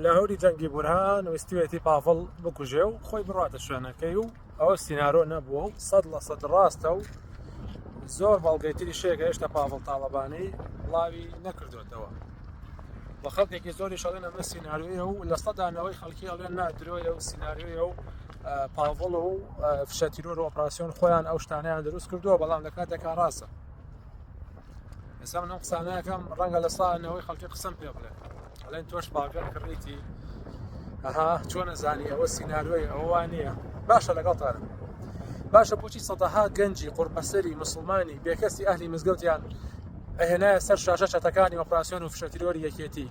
لە هەوری جەنگی بورهان ویستوێتی پاڤڵ بکوژێ و خۆی بڕاتە شوێنەکەی و ئەوە سینارۆ نەبووە و سەد لە سەد ڕاستە و زۆر بەڵگەتری شێکە هێشتا پاڤڵ تاڵەبانی بڵاوی نەکردوێتەوە بە خەڵکێکی زۆری شەڵێن ئەمە سیننارویە و لە سەدانەوەی خەڵکی ئەڵێن نادرۆیە و سیننارویە و پاڤڵ و فشەتیرۆر و ئۆپراسسیۆن خۆیان ئەو شتانیان دروست کردووە بەڵام لە کاتێکا ڕاستە ئێستا من ئەم قسانەکەم ڕەنگە لە ساڵ نەوەی خەڵکی قسم پێ بڵێ ئەڵێن تۆش باگەر کڕیتی ئەها چۆن نەزانی ئەوە سینناروی ئەوە نییە باشە لەگەڵتانم باشە بچی سەدەها گەنجی قورپەسەری مسلمانی بێکەسی ئەهلی مزگەوتیان ئەهێنایە سەر شاشە چەتەکانی ئۆپراسسیۆن و فشەتیرۆری یەکێتی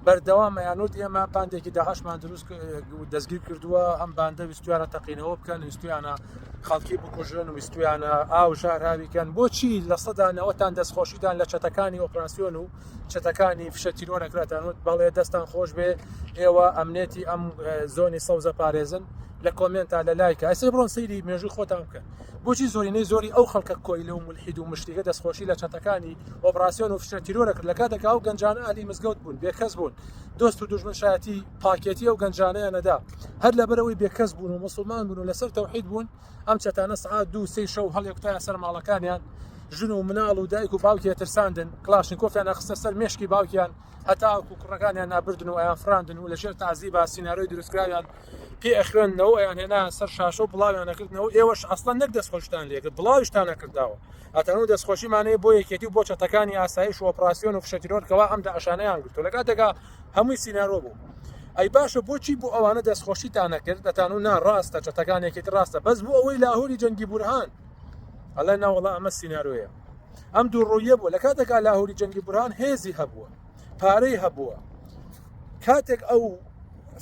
بەردەوام یانوت ئێمە باندێکی داهشمان دروست دەستگیر کردووە ئەم باندە ویستویانە تەقینەوە بکەن ویستویانە خەڵکی بکوژن و ویستویانە ئاو ژاراویکەن بۆچی لە سەدا نەوەتان دەستخۆشیتان لە چەتەکانی ئۆپراسسیۆن و چەتەکانی فشە تیرۆرەکراتان وت بەڵێ دەستان خۆش بێ ئێوە ئەمنێتی ئەم زۆنی سەوزە پارێزن لە کۆمنتا لە لایکە ئەسێ بڕۆن سەیری مێژوی خۆتان بکەن بۆچی زۆرینەی زۆری ئەو خەڵکە کۆیلە و ملحید و مشتیگە دەستخۆشی لە چەتەکانی ئۆپراسسیۆن و فشە تیرۆرە کرد لە کاتێکا و گەنجان ئالی مزگەوت بوون بێکەس بوون دۆست و دژمن شایەتی پاکێتی ئەو گەنجانەیان نەدا هەر لەبەرەوەی بێکەس بوون و مسلمان بوون و لەسەر تەوحید بوون ئەم چەتانە سعات دوو سی شەو هەڵێکتایە سەر ماڵەکانیان ژن و مناڵ و دایک و باوکیە ترساندن کلاشن کۆفیان ئەخستە سەر مشکی باوکیان هەتاکو کوڕەکانیان نابردن و ئەیان فراندن و لەژێر تازی با سینناۆی دروستکراویان پێ ئەخوێندنەوە ئەیان هێنا سەر شاشە و بڵاویان نەکردنەوە ئێوەش ئەسڵەن نەک دەستخۆشتان لێکرد بڵاویشتان نەکرداوە ئەتەن و دەستخۆشیمانەیە بۆ یەکێتی بۆ چەتەکانی ئاسایش و ئۆپراسسیۆن و فشەتیرۆرکەوە ئەم داعشانەیان گرتو لە کاتێکا هەمووی سینارۆ بوو ئەی باشە بۆچی بۆ ئەوانە دەستخۆشیتان نەکرد دەتان و ناڕاستە چەتەکان یەکێت ڕاستە بەس بۆ ئەوەی لاهوری جەنگی بورهان ئەڵێ ناوەڵا ئەمە سینارۆیە ئەم دوو ڕۆیە بوو لە کاتێکا لاهوری جەنگی بورهان هێزی هەبووە پارەی هەبووە کاتێک ئەو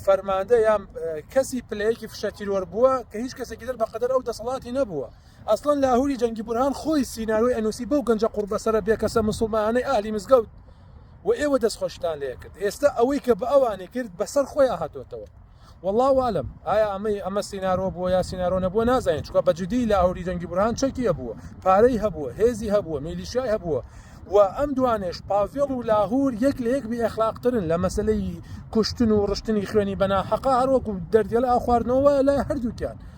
فەرماندە یان کەسی پلەیەکی فشە تیرۆر بووە کە هیچ کەسێکی دەر بەقەدەر ئەو دەسەڵاتی نەبووە ئەسڵەن لاهوری جەنگی بورهان خۆی سینارۆی ئەنوسی بەو گەنجە قوڕبەسەرە بێکەسە مسوڵمانانەی ئەهلی مزگەوت و ئێوە دەست خۆشتان لێکرد ئێستا ئەوەی کە بە ئەوانی کرد بەسەر خۆی ئاهاتۆتەوە والله والم ئایا ئەمەی ئەمە سینارۆ بووە یا سینارۆ نەبووە نازانین چکە بە جدی لاهوری جەنگی بورهان چەکی هەبووە پارەی هەبووە هێزی هەبووە میلیشای هەبووە و ئەم دوانێش پاڤێڵ و لاهور یەک لە یەک بی ئەخلاقترن لە مەسلەی کوشتن و ڕشتنی خوێنی بەناحەقا هەروەکو دەردێڵ ئاخواردنەوە لای هەردووکیان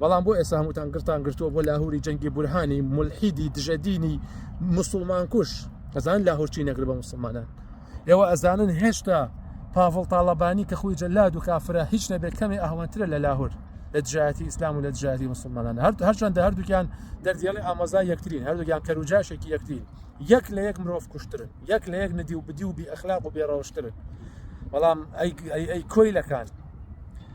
بەڵام بۆ ئێستا هەمووتان گرتان گرتووە بۆ لاهوری جەنگی بورهانی ملحیدی دژەدینی مسلمان کوش ئەزان لاهورچی نەگر بە مسلمانان ئێوە ئەزانن هێشتا پاڤڵ تاالبانی کە خۆی جەلاد و کافرە هیچ نەبێت کەمێ ئەهوەترە لە لاهور لە دژایەتی ئیسلام و لە دژایەتی مسلمانان هەر هەرچەندە هەردووکیان دەردێڵی ئامازا یەکترین هەردووکیان کەروجاشێکی یەکترین یەک لە یەک مرۆڤ کوشترن یەک لە یەک ندی و بدی و بی ئەخلاق و بێڕەوشترن بەڵام ئەی کۆیلەکان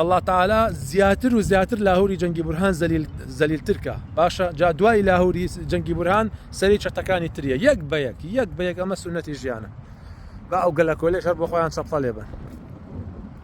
اللە تعالی زیاتر و زیاتر لاهوری جەنگی بورهان زەلیل زەلیل ترکا باشە جا دوای لاهوری جەنگی بورهان سەری چەتەکانی تریە یەک بە یەک یەک بە یەک ئەمە سنەتی ژیانە با ئەو گەلە کۆلێش هەر بۆ خۆیان چەپڵە لێبن